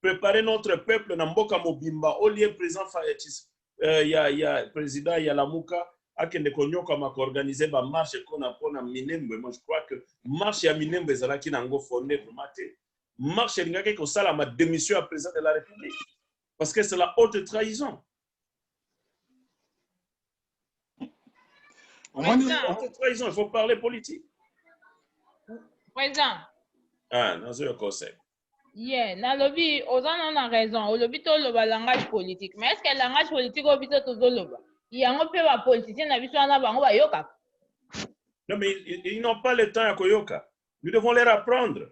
[SPEAKER 1] préparer notre peuple na mboka mobimba au lieu président Fayetchis euh, ya ya président ya Lamuka akende konyokama ko organiser ba marche kona pona Minembwe moi je crois que marche ya Minembwe ezalaki na ngo fondé vraiment te marche elingaki kosalama démission ya président de la république parce que c'est la haute trahison omoni trahison il faut parler politique président
[SPEAKER 5] ah nazoya
[SPEAKER 1] conseil ye
[SPEAKER 5] nalobi oza na na raison olobi toloba langage politique mais estce que langage politique oyo biso tozoloba yango mpe bapoliticien na biso wana bango bayokaka non
[SPEAKER 1] mais ils n'ont pas le temps ya koyoka nous devons leur apprendre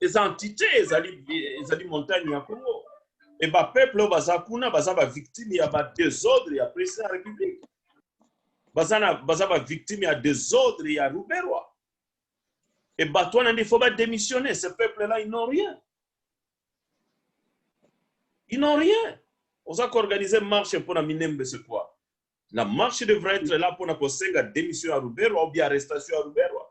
[SPEAKER 1] eza entité ezali ezali montagne ya Congo et ba peuple baza kuna baza ba victime ya ba désordre ya président ya république baza na baza ba victime ya désordre ya Ruberwa et bato wana nde faut ba démissionner ce peuple là ils n'ont rien ils n'ont rien oza ko organiser marche mpona minembe c'est quoi la marche devrait être là mpona kosenga démission ya Ruberwa ou bien arrestation ya Ruberwa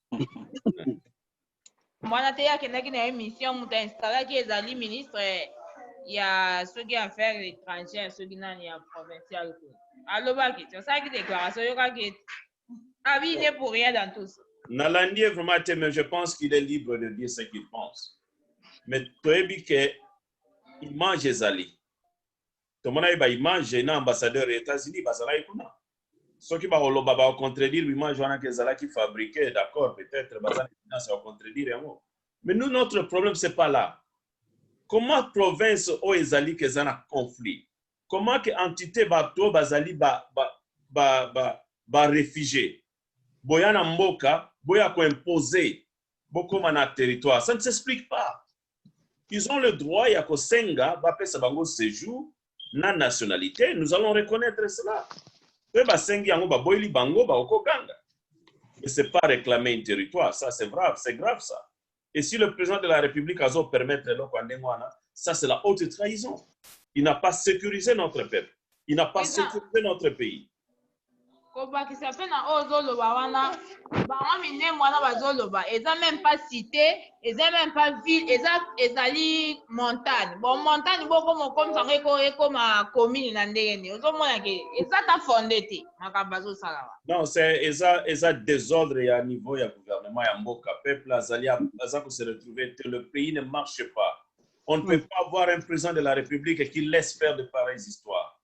[SPEAKER 5] mwana te akendaki na ye mission moto installaki ezali ministre ya soki affaire étrangère soki nani ya provincial ko alobaki ti asalaki déclaration oyokaki ete abine ah pour rien dans tout ça nalandi ye vraiment
[SPEAKER 1] te mais je pense qu'il est libre de dire ce qu'il pense mais toyebi ke image ezali tomonaki ba image na ambassadeur ya etats unis bazalaki kuna soki bakoloba ba contredire image wana ke ezalaki fabrique d'accord peut-être baza na evidence ya contredire yango mais nous notre problème c'est pas là comment province oyo ezali ke eza na conflit comment ke entité bato oyo bazali ba, ba, ba, ba, ba réfugié boya na mboka boya koimpose bokoma na territoire ça ne s'explique pas Ils ont le droit ya kosenga bapesa bango sejour na nationalite, nous allons reconnaître cela. Pe basengi yango baboyi libango bakokoganga. Mais c'est pas réclamer un territoire, ça c'est grave, c'est grave ça. Et si le président de la République azo permettre eloko ya ndenge wana, ça c'est la haute trahison. Il n'a pas sécurisé notre peuple. Il n'a pas Eza- sécurisé notre pays.
[SPEAKER 5] kobakisa mpe na oyo ozoloba wana bango minembwe wana bazoloba eza meme pas cité eza meme pas ville eza ezali montagne bon montagne bokoma okomisa yango eko ekoma commune na ndenge nini ozomona ke eza ta fonde te makambo azosala wa non c'est eza
[SPEAKER 1] eza désordre ya niveau ya gouvernement ya mboka peuple azali aza ko se retrouver te le pays ne marche pas on ne peut pas avoir un président de la république qui laisse faire de pareilles histoires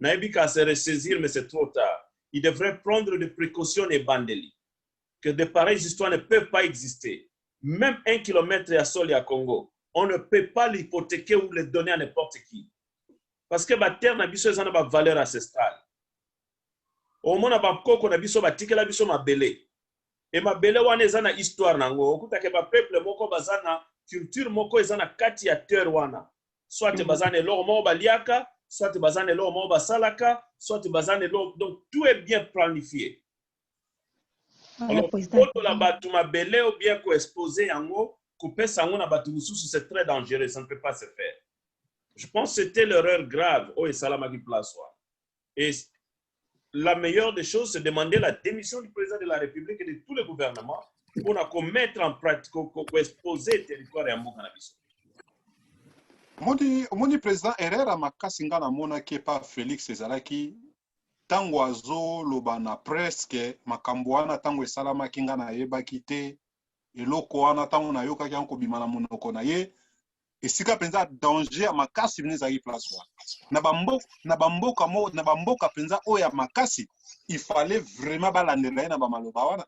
[SPEAKER 1] nayebi ka se ressaisir mais c'est trop tard il devrait prendre des precautions na ebandeli que de pareilles histoires ne peuvent pas exister même un kilomètre ya sol ya Congo on ne peut pas l'hypothéquer ou le donner à n'importe qui parce que ba terre na biso eza na ba valeur ancestrale omona ba koko na biso batikela biso mabele Et mabele wana eza na histoire na yango. Okuta ke ba peuple moko baza na culture moko eza na kati ya terre wana. Soit mm. baza na eloko moko baliaka, soit baza na eloko moko basalaka, soit baza na eloko donc tout est bien planifié. Ah, Alors, kotola bato mabele ou bien ko exposer yango, kopesa yango na bato mosusu c'est très dangereux, ça ne peut pas se faire. Je pense que c'était l'erreur grave oyo esalamaki place wana. Et la meilleure des choses, c'est demander la démission du président de la République et de tous les gouvernements pour la commettre en pratique, pour exposer le territoire et en bon cannabis. omoni
[SPEAKER 2] omoni président herrera makasi ngai namonaki epa félix ezalaki ntango azoloba na preske makambo wana ntango esalamaki ngai nayebaki te eloko wana ntango nayokaki yango kobima na monoko na ye esika mpenza danger ya makasi mpenza ezalaki place wana na bamboka na bamboka mo na bamboka mpenza oyo ya makasi il fallait vraiment balandela ye na bamaloba wana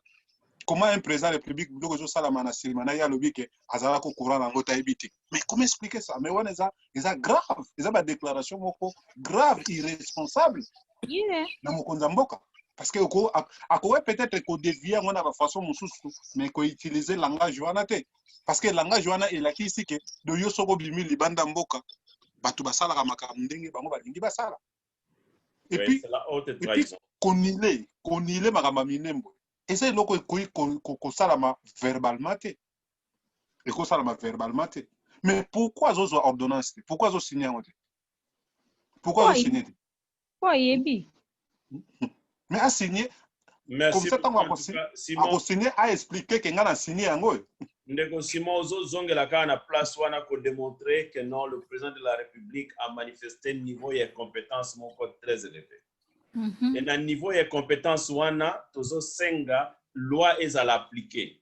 [SPEAKER 2] comment un président de république biloko ezosalama na silima na ye alobi ke azala ko courant na yango tayebi te mais comment expliquer ça mais wana eza eza grave eza badéclaration moko grave irresponsable yeah.
[SPEAKER 5] na mokonzi ya mboka
[SPEAKER 2] parce que akoki peut-être kodevie yango na bafaçon mosusu mais koutiliser langage wana te parce que langage wana elakisi ke do yo soko obimi libanda mboka bato basalaka makambo ndenge bango balingi basala et puis
[SPEAKER 1] konile konile
[SPEAKER 2] makambo ya minembo eza eloko ekoki kosalama verbalement te ekosalama verbalement te mais pourquoi azozwa ordonnance te pourquoi azosigne yango te pourquoi azosigne te po ayebi mais asigne comme ça ntango akosigne aexplike ke ngai na signe yango oyo ndeko simon
[SPEAKER 1] ozozongela kaka na place wana kodemontre que non le président de la république a manifesté niveau ya compétence moko très élevé mm -hmm. e na niveau ya compétence wana tozosenga loi ezala appliquée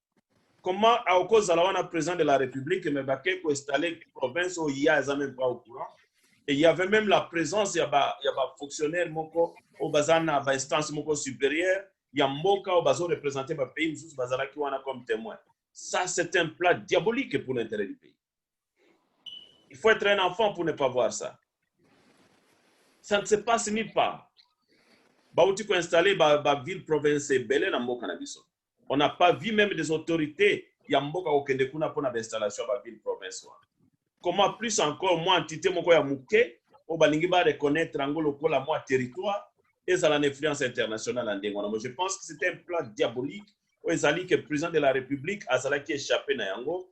[SPEAKER 1] comment aokozala wana président de la république mais bake ko installer province oyo ye aza même pas au courant et il y avait même la présence ya ba ya ba fonctionnaire moko oyo baza na ba instance moko supérieure ya mboka oyo bazo représenter ba pays mosusu bazalaki wana comme témoin ça c'est un plat diabolique pour l'intérêt du pays Il faut être un enfant pour ne pas voir ça. Ça ne se passe nulle part. Bauti ko installer ba, ba ville province ebele na mboka na biso. On n'a pas vu même des autorités ya mboka kokende kuna mpo na bainstallation ya ba ville province wana. Comment plus encore mwa entité moko ya moke oyo balingi ba reconnaître yango lokola mwa territoire ezala na influence internationale ya ndenge wana. Moi, Je pense que c'est un plan diabolique oyo ezali que président de la République azalaki échappé na yango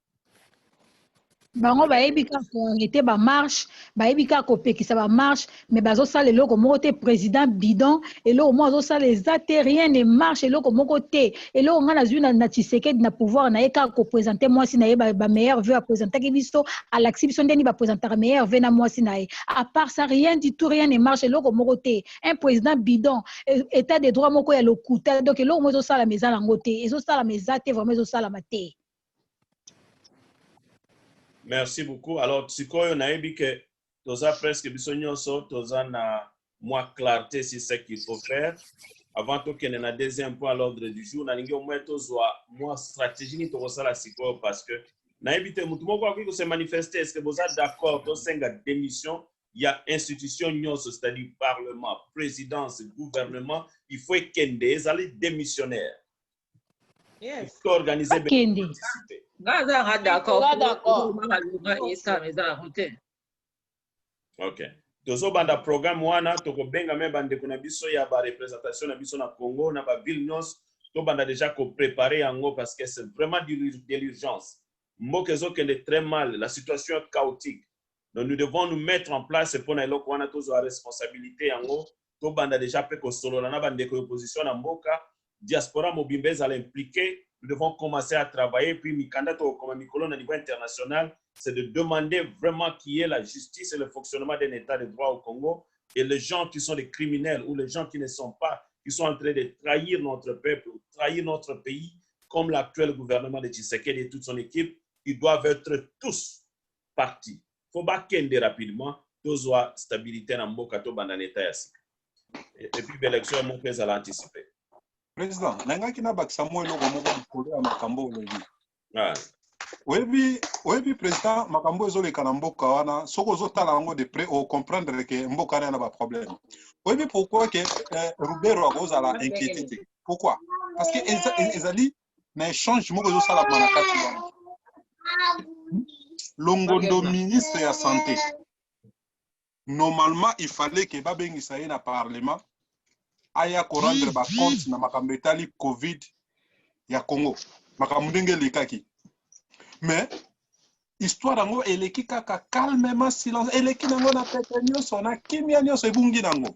[SPEAKER 7] bango bayebi kaka koarrete bamarche bayebi kaka kopekisa bamarche mais bazosala eloko moko te président bidon eloko moko azosala eza te rien ne marche eloko moko te eloko ngai nazwi na tshisekedi na pouvoir na ye kaka kopresente mwasi na ye bameilleur ba veu apresentaki biso alakisi biso ndeni bapresentaka meilleur veu na mwasi na ye à part ça rien du tout rien ne marche eloko moko te un président bidon e, état de droit moko ya lokuta donc eloko moko ezosalama eza nango te ezosalama eza te vraiment ezosalama te
[SPEAKER 1] Merci beaucoup. Alors, sikoyo nayebi que toza presque biso nyonso toza na mwa clarté sur ce qu'il faut faire. Avant tokende na deuxième point à l'ordre du jour, nalingi au moins tozwa mwa stratégie nini tokosala sikoyo parce que nayebi te motu moko akoki kose manifester est-ce que boza d'accord tosenga démission ya institution nyonso c'est-à-dire parlement, présidence, gouvernement, il faut ekende ezali démissionnaire.
[SPEAKER 4] Yes. to organiser
[SPEAKER 1] be- Bakende. Nga aza nga d'accord. Nga d'accord. Tozoluma malonga esala eza yango te. okay tozobanda programme wana tokobenga me bandeko na biso ya barepresentation na biso na congo na baville nyonso tobanda deja koprepare yango parce que c'est vraiment du- de l'urgence mboka ezokende très mal la situation est chaotique donc nous devons nous mettre en place mpo na eloko wana tozwa responsabilité yango tobanda déjà mpe kosolola na bandeko ya opposition na mboka diaspora mobimba ezala impliqué nous devons commencer à travailler puis mikanda tokokoma mikolo na niveau international c'est de demander vraiment qui est la justice et le fonctionnement d'un état de droit au Congo et les gens qui sont des criminels ou les gens qui ne sont pas qui sont en train de trahir notre peuple trahir notre pays comme l'actuel gouvernement de Tshisekedi et toute son équipe ils doivent être tous parti faut ba kende rapidement tozwa stabilite na mboka tobanda na etat ya sika et puis b'election ya moko ezala anticipe président
[SPEAKER 2] nalingaki nabakisa mwa eloko moko likolo ya makambo olobi ah. oyebi oyebi président makambo ezoleka na mboka wana soki ozotala yango de près ocomprendre ke mboka wana na baproblème oyebi pourquoi ke eh, rubero akozala inquiété te pourquoi parce que ezali na échange moko ezosalama na kati wana longondo ministre ya santé normalement il fallait ke babengisa ye na parlement aya korendre bacompte na makambo etali covid ya congo makambo ndenge elekaki mais histoire yango eleki kaka calmement silence eleki nango na pete nyonso na kimia nyonso ebungi nango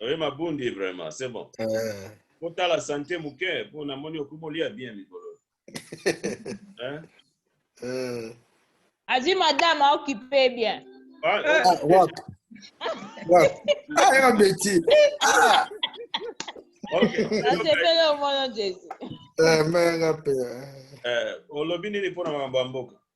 [SPEAKER 1] Oye mabundi vraiment, c'est bon. Eh. Kotala sante moke mpo namoni okomi olia bien mikolo. Hein? Eh.
[SPEAKER 5] Azwi madame aokipe bien. Ah, Eh. Ah, wapi?
[SPEAKER 8] Wapi? Ah, yaka beti. Ah,
[SPEAKER 1] ok. Nasepeli
[SPEAKER 5] omono Jesu. eh, mais yaka pe. eh.
[SPEAKER 1] Eh, olobi nini mpo na makambo ya mboka?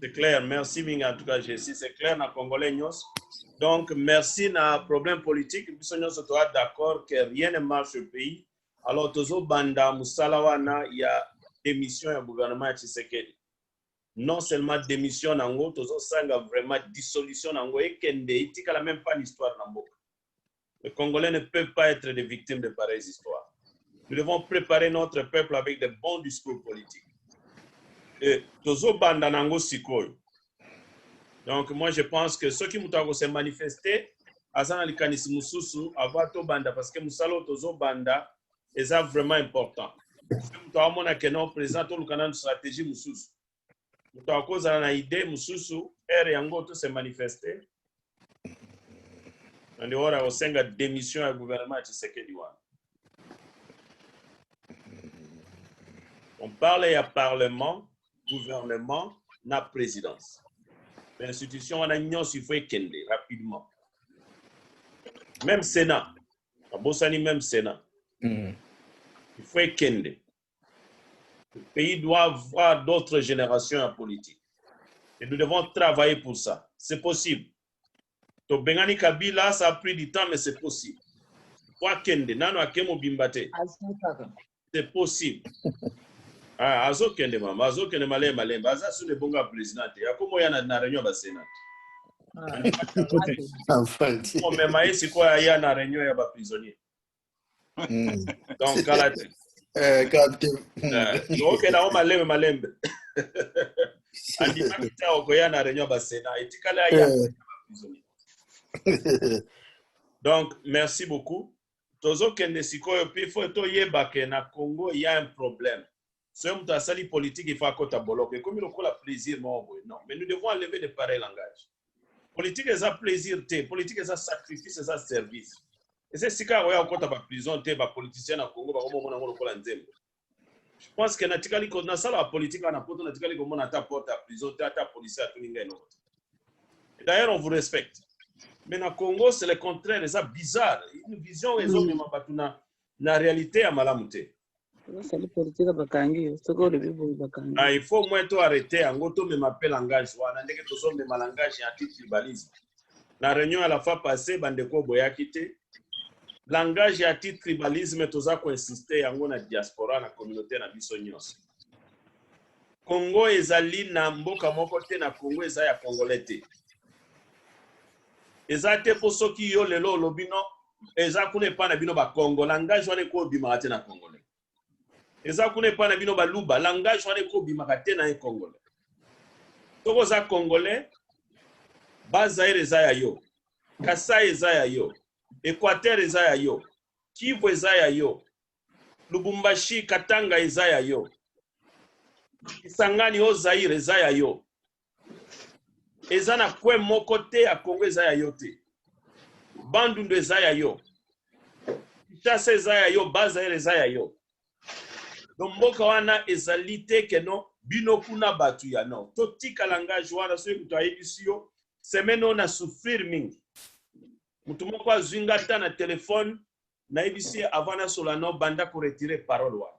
[SPEAKER 1] C'est clair, merci mingi en tout cas Jessie, c'est clair na congolais nyonso. Donc merci na problème politique, biso nyonso toa d'accord que rien ne marche au pays. Alors tozo banda musala wana ya démission ya gouvernement ya Tshisekedi. Non seulement démission nango, tozo sanga vraiment dissolution nango ekende itikala même pas l'histoire na mboka. Le Congolais ne peut pas être des victimes de pareilles histoires. Nous devons préparer notre peuple avec de bons discours politiques. Et tozo banda nango sikoyo. Donc moi je pense que ceux qui mutako se manifester aza na likanisi mususu avant to banda parce que musalo tozo banda eza vraiment important. Soki moto amona que non président toluka nanu stratégie mususu. moto akozala na idee mosusu heure yango to se manifeste na ndeko na kosenga démission ya gouvernement ya tshisekedi wana on parle ya parlement gouvernement na présidence bainstitution wana nyonso il faut ekende rapidement même sénat abosani même sénat Mm. il faut ekende Le pays doit avoir d'autres generations en politique. Et nous devons travailler pour ça. C'est possible. Tobengani Kabila, ça a pris du temps, mais c'est possible. Kwa kende, nano akemo bimbate. C'est possible. Ah, azo kende mama, azo kende malé malé. Baza sous le bon gars président. Yakomo ya na na réunion ba sénat. Enfin, On mema ye sikoyo aya na réunion ya ba prisonniers. Mm. Donc, kala te. Eh, kala te. Eh, ok, na o malembe malembe. Andimaki ta okoya na réunion ba Sénat. Etikala ya. Eh. Donc, merci beaucoup. Tozokende sikoyo mpe fo toyeba ke na Congo ya un problème. soki moto asali politiki il faut akota boloko ekomi lokola plaisir moko boye non mais nous devons enlever de pareil langage politiki eza plaisir te politiki eza sacrifice eza service eza esika ya koya kokota baprison te bapoliticien na congo bakomomona yango lokola nzembo je pense que natikali nasala bapolitiki wana poto natikali komona ata porte ya prison te ata policier atuni ngai eloko te d'ailleurs on vous respecte mais na congo c'est le contraire eza bizarre une vision ezomema bato na na realite ya malamu te basali
[SPEAKER 3] politika bakangi yo soki olobi boye
[SPEAKER 1] bakangi Ah, il faut moins to arrêter yango tomema mpe langage wana ndenge tozomema langage ya antitribalisme na réunion ya la fois passé bandeko boyaki te langage ya antitribalisme toza koinsiste yango na diaspora na communauté na biso nyonso congo ezali na mboka moko te na congo eza ya congolais te eza te mpo soki yo lelo olobi no eza kuna epai na bino bakongo langage wana eko obimaka te na congolais eza kuna epai na bino baluba langage wana eko obimaka te na ye congolais soki oza congolais bazaire eza ya yo kasai eza ya yo equateur eza ya yo kivu eza ya yo lubumbashi katanga eza ya yo kisangani o zaire eza ya yo eza na coin moko te ya congo eza ya yo te bandundu eza ya yo kinshasa eza ya yo bazaire eza ya yo no mboka wana ezali te keno bino kuna bato ya nord totika langage wana soki moto ayebisi yo semaine oyo na souffrir mingi moto moko azwi nga ata na telefone nayebisi ye avant nasola no banda koretire parole wana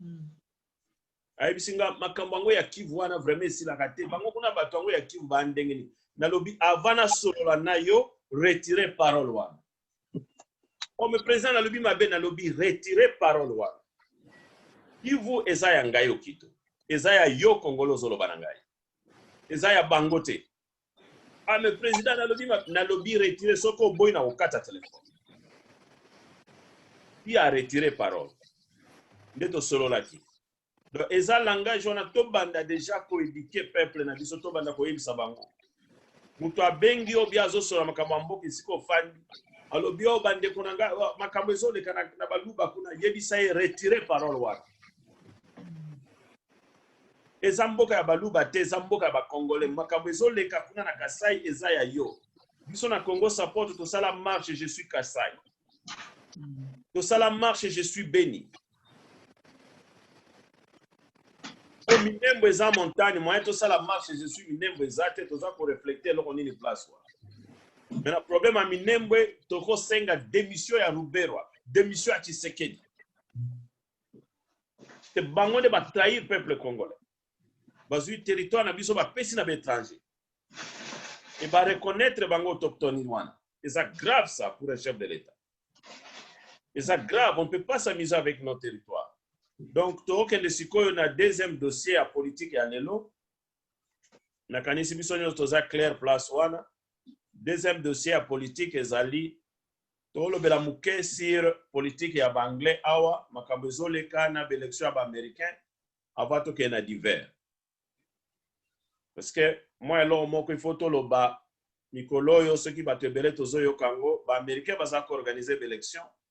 [SPEAKER 1] hmm. ayebisi nga makambo yango ya kivu wana vraiment esilaka te bango kuna bato yango ya kivu baa ndenge nini nalobi avant nasolola na yo retire parole wana comme président nalobi mabe nalobi retire parole wana kivu eza ya ngai okito eza ya yo kongolo ozoloba na ngai eza ya bango te Ah, mais président, nalobi, nalobi retirer ce qu'on boit au kata téléphone. Qui a retiré parole? Nde to solo laki. Donc, eza langage wana to banda déjà ko éduquer peuple na biso to banda ko yebisa bango. Mutu abengi yo bia zo solo makambo ya mboka esika ofandi. Alobi yo bande kuna nga makambo ezo leka na, na baluba kuna yebisa ye retirer parole wana. eza mboka ya baluba te eza mboka ya bacongolais makambo ezoleka kuna na kasai eza ya yo biso na congo sapoto tosala marche je suis kasai tosala marche je suis beni po minembo eza montagne moyen tosala marche je suis minembo eza te toza koreflekte eloko nini place wana me na problème ya minembwe tokosenga démission ya ruberwa démission ya tshisekedi te bango nde ba trahir peuple congolais bazwi territoire na biso bapesi na baétranger e ba reconnaître bango autochtone wana eza grave ça pour un chef de l'état eza grave on ne peut pas s'amuser avec nos territoires donc tokokende sikoyo na deuxième dossier ya politique ya lelo nakanisi biso nyonso toza claire place wana deuxième dossier ya politique ezali tolobela moke sur politique ya baanglais awa makambo ezoleka na baélection ya baaméricain avant tokende na divers parce que mwa eloko moko ifo toloba mikolo oyo soki bato ebele tozoyoka yango baaméricain baza koorganize baélection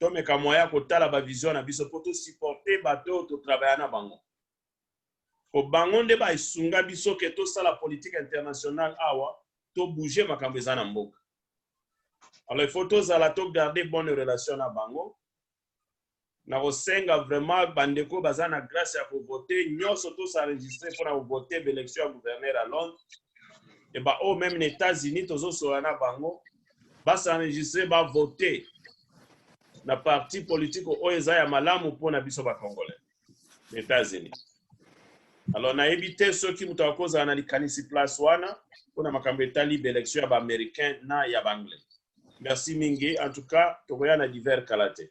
[SPEAKER 1] tomeka moyen ya kotala ba vision na biso mpo to supporter bato oyo to travailla na bango mpo bango nde ba esunga biso ke tosala politique internationale awa to bouger makambo eza na mboka alors il faut tozala to garder bonne relation na bango na kosenga vraiment bandeko baza na grâce ya kovote nyonso tosaregistre mpo na kovote baélection ya gouverneur ya londres e baoyo meme na états-unis tozosola na bango ba s'enregistrer ba voter na parti politique oyo eza ya malamu mpo na biso ba congolais na Etats-Unis. Alors nayebi te soki moto akozala na likanisi place wana mpo na makambo etali ba election ya ba américain na ya ba anglais. Merci mingi en tout cas tokoya na divers kala te.